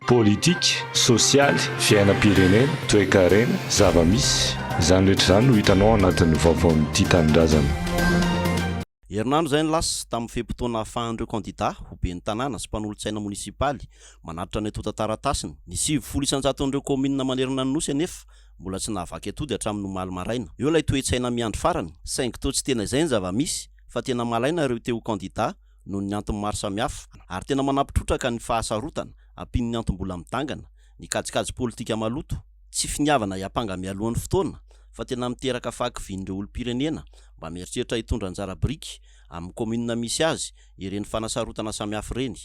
Politika, sosialy, fiainam-pirenena, toekarena, zava-misy. Izany rehetra izany no hitanao ao anatin'ny vaovaon'ity tanindrazana. Herinandro izay no lasa, tamin'ny fe-potoana ahafahan'ireo kandidà ho ben'ny tanàna sy mpanolotsaina monisipaly manatitra ny antontan-taratasiny. Ny sivifolo isan-jaton'ireo kaominina manerana ny Nosy anefa mbola tsy nahavaky atody hatramin'ny omaly maraina. Eo ilay toe-tsaina miandry farany, saingy toa tsy tena izay ny zava-misy fa tena malaina ireo te ho kandidà noho ny antony maro samihafa, ary tena manampy trotraka ny fahasarotana, ampian'ny antom-bola midangana, ny kajikajy politika maloto, tsy finiavana hiampanga mialohan'ny fotoana, fa tena miteraka fahakivian'ireo olom-pirenena mba mieritreritra hitondra anjara biriky, amin'ny kaominina misy azy, ireny fanasarotana samihafa ireny.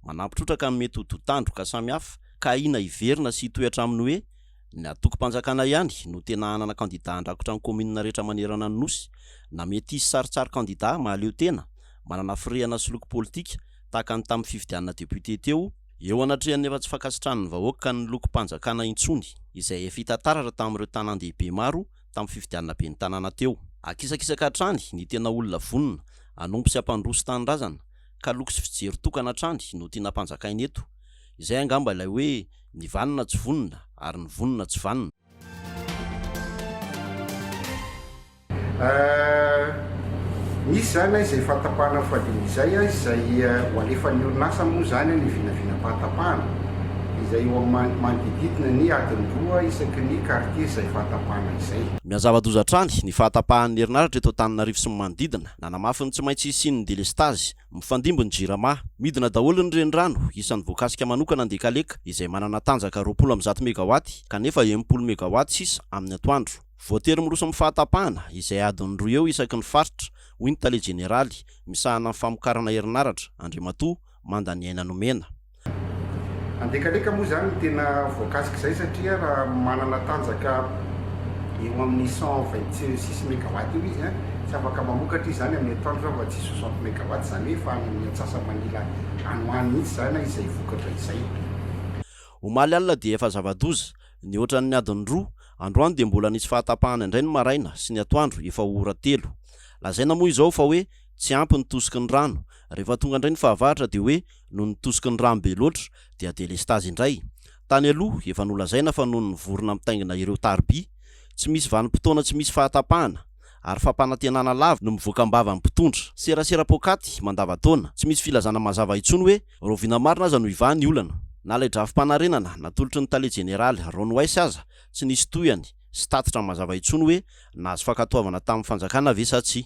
Manampy trotraka ny mety ho dotandroka samihafa ka ahiana hiverina sy hitohy hatramin'ny hoe Ny antokom-panjakana ihany no tena hanana kandidà handrakotra ny kaominina rehetra manerana ny Nosy. Na mety hisy saritsary kandidà mahaleo tena, manana firehana sy loko politika, tahaka ny tamin'ny fifidianana député teo, eo anatrehan'ny efa tsy fankasitrahan'ny vahoaka ny lokom-panjakana intsony, izay efa hita taratra tamin'ireo tanàn-dehibe maro tamin'ny fifidianana ben'ny tanàna teo. Akisakisaka hatrany ny tena olona vonona hanompo sy hampandroso tanindrazana, ka loko sy fijery tokana hatrany no tiana hampanjakaina eto. Izay angamba ilay hoe ny vanona tsy vonona ary ny vonona tsy vanona. Eh, misy izany eh, izay fahatapahana fadiny izay eh, izay ho alefan'ny orinasa moa izany eh, ny vinavinam-pahatapahana izay eo amin'ny manodididina ny adiny roa isaky ny kartie izay fahatapahana izay. Mihazava-doza hatrany ny fahatapahan'ny herinaratra eto Antananarivo sy ny manodidina. Nanamafy ny tsy maintsy hisian'ny delestazy. Mifandimby ny Jirama. Midina daholo ny renirano, isan'ny voakasika manokana Andekaleka, izay manana tanjaka roapolo amby zato megawaty, kanefa enimpolo megawaty sisa amin'ny atoandro. Voatery miroso amin'ny fahatapahana, izay adiny roa eo isaky ny faritra, hoy ny tale jeneraly, misahana ny famokarana herinaratra, Andriamatoa Mandaniaina Nomena. Andekaleka moa izany ny tena voakasik'izay satria raha manana tanjaka eo amin'ny cent vingt six megawatts eo izy, tsy afaka mamokatra izy izany amin'ny atoandro raha tsy soixante megawatts, izany hoe efa any amin'ny antsasa-manila any ho any mihitsy izany izay vokatra izay. Omaly alina dia efa zava-doza, nihoatran'ny adiny roa, androany dia mbola nisy fahatapahana indray ny maraina sy ny atoandro efa ho ora telo. Lazaina moa izao fa hoe tsy ampy ny tosiky ny rano, rehefa tonga indray ny fahavaratra dia hoe Noho ny tosiky ny rano be loatra dia delestazy indray. Tany aloha efa nolazaina fa noho ny vorona mitaingina ireo tariby, tsy misy vanim-potoana tsy misy fahatapahana ary fampanantenana lava no mivoaka am-bava ny mpitondra. Serasera poakaty mandavan-taona. Tsy misy filazana mazava intsony hoe rahoviana marina aza no hivaha ny olana. Na ilay drafi-panarenana natolotry ny tale jeneraly Ron Weiss aza tsy nisy tohiny sy tatitra mazava intsony hoe nahazo fankatoavana tamin'ny fanjakana ve sa tsia.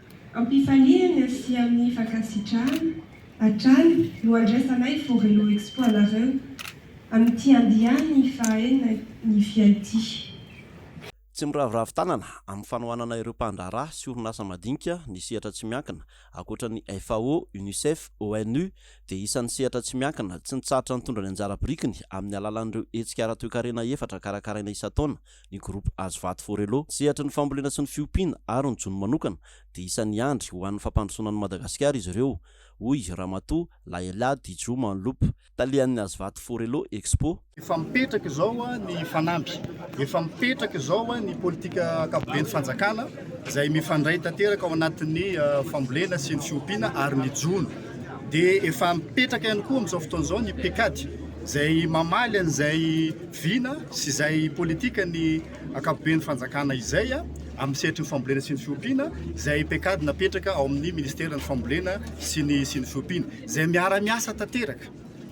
Ampifaliana sy amin'ny fankasitrahana hatrany no andraisanay Forello Expo anareo amin'ity andiany fahaenina ny FIAITI. Tsy miraviravy tanana amin'ny fanohanana ireo mpandraharaha sy orinasa madinika ny sehatra tsy miankina, ankoatra ny FAO, Unicef, ONU dia isan'ny sehatra tsy miankina tsy nitsahatra nitondra ny anjara birikiny amin'ny alalan'ireo hetsika ara-toekarena efatra karakaraina isan-taona Ny groupe Hazovato Forello, sehatry ny fambolena sy ny fiompiana ary ny jono manokana, dia isan'ny hiandry ho an'ny fampandrosoana an'i Madagasikara izy ireo, hoy Ramatoa Laela Dijo Manlop, talehan'ny Hazovato Forello Expo. Efa mipetraka izao ny fanamby, efa mipetraka izao ny politika ankapoben'ny fanjakana izay mifandray tanteraka ao anatin'ny fambolena sy ny fiompiana ary ny jono. Dia efa mipetraka ihany koa amin'izao fotoana izao ny Pecad izay mamaly an'izay Vina sy izay politika ny ankapoben'ny fanjakana izay amin'ny sehatry ny fambolena sy ny fiompiana izay pecad napetraka ao amin'ny ministeran'ny fambolena sy ny sy ny fiompiana izay miara-miasa tanteraka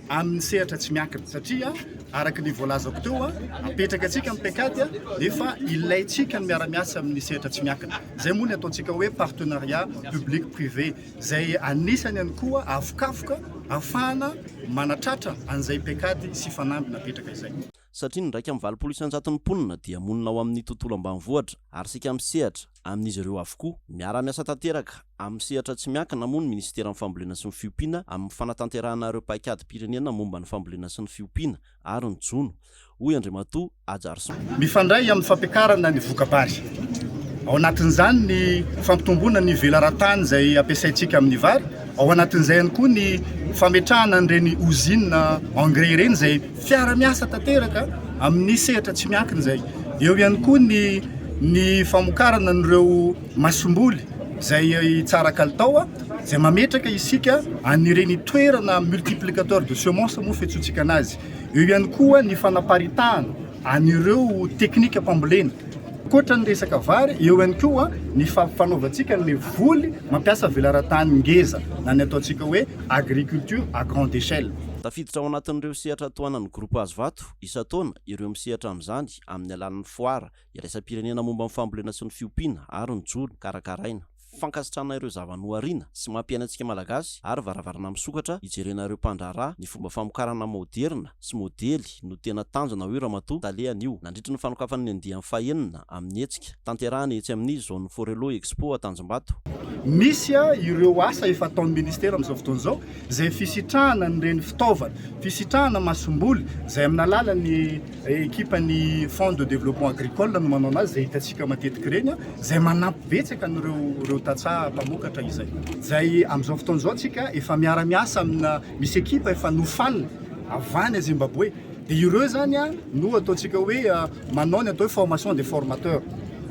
amin'ny sehatra tsy miankina satria araka ny voalazako teo apetraka antsika amin'ny pecad nefa ilaintsika ny miara-miasa amin'ny sehatra tsy miankina izay moa ny ataontsika hoe partenariat public privé izay anisany ihany koa avokafoka ahafahana manatratra an'izay paikady sy fanamby napetraka izay. Satria ny iraika amby valopolo isan-jaton'ny mponina dia monina ao amin'ny tontolo ambanivohitra ary isika misehatra amin'izy ireo avokoa. Miara-miasa tanteraka amin'ny sehatra tsy miankina moa ny Minisiteran'ny Fambolena sy ny Fiompiana amin'ny fanatanterahana ireo paikadim-pirenena momba ny fambolena sy ny fiompiana ary ny jono, hoy Andriamatoa Ajarison. Mifandray amin'ny fampiakarana ny voka-bary. Ao anatin'izany ny fampitomboana ny velaran-tany izay ampiasaintsika amin'ny vary, ao anatin'izay ihany koa ny fametrahana an'ireny ozinina engrais ireny izay fiara-miasa tanteraka amin'ny sehatra tsy miankina izay. Eo ihany koa ny ny famokarana an'ireo masomboly izay tsara kalitao izay mametraka isika an'ireny toerana multiplicateur de semence moa fiantsoantsika anazy. Eo ihany koa ny fanaparitahana an'ireo teknika fambolena. Ankoatra ny resaka vary, eo ihany koa ny fampifanaovantsika ny voly mampiasa velaran-tany ngeza na ny ataontsika hoe agriculture à grande échelle. Tafiditra ao anatin'ireo sehatra tohanan'ny groupe Hazovato isan-taona ireo misehatra amin'izany amin'ny alalan'ny foara iraisam-pirenena momba ny fambolena sy ny fiompiana ary ny jono karakaraina. Fankasitrahana ireo zava-noharina sy mampiaina antsika Malagasy ary varavarana misokatra hijerena ireo mpandraharaha ny fomba famokarana maoderina sy modely no tena tanjona hoy Ramatoa Tale anio nandritry ny fanokafana ny andiany fahenina amin'ny hetsika tanterahana etsy amin'ny Zone Forello Expo Antanjombato. Misy ireo asa efa ataon'ny Ministera amin'izao fotoana izao izay fisitrahana an'ireny fitaovana fisitrahana masomboly izay amin'ny alalan'ny Ekipa ny Fonds de Développement Agricole no manao anazy, izay hitantsika matetika ireny, izay manampy betsaka an'ireo tantsaha mpamokatra izay. Izay amin'izao fotoana izao tsika efa miara-miasa amina, misy ekipa efa nofanina avy any Zimbabwe, dia ireo izany no ataontsika hoe manao ny atao hoe formation des formateurs.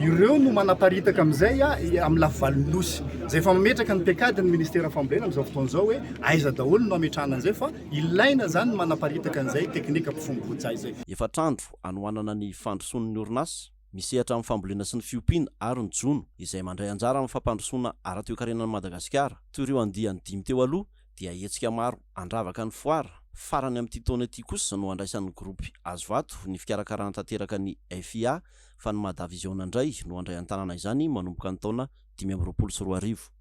Ireo no manaparitaka amin'izay amin'ny lafivalon'ny Nosy. Izay efa mametraka ny paikadin'ny Ministera Fambolena amin'izao fotoana izao hoe aiza daholo no hametrahana an'izay fa. Ilaina izany ny manaparitaka an'izay teknika mpifombon-tsaha izay. Efatr'andro anohanana ny fandrosoan'ny orinasa misehatra amin'ny fambolena sy ny fiompiana ary ny jono izay mandray anjara amin'ny fampandrosoana ara-toekarena an'i Madagasikara. Toy ireo andiany dimy teo aloha dia hetsika maro handravaka ny foara farany amin'ity taona ity kosa no handraisan'ny gropy Hazovato ny fikarakarana tanteraka ny FIA fa ny Madavision indray no handray an-tanana izany manomboka ny taona dimy amby roapolo sy roa arivo.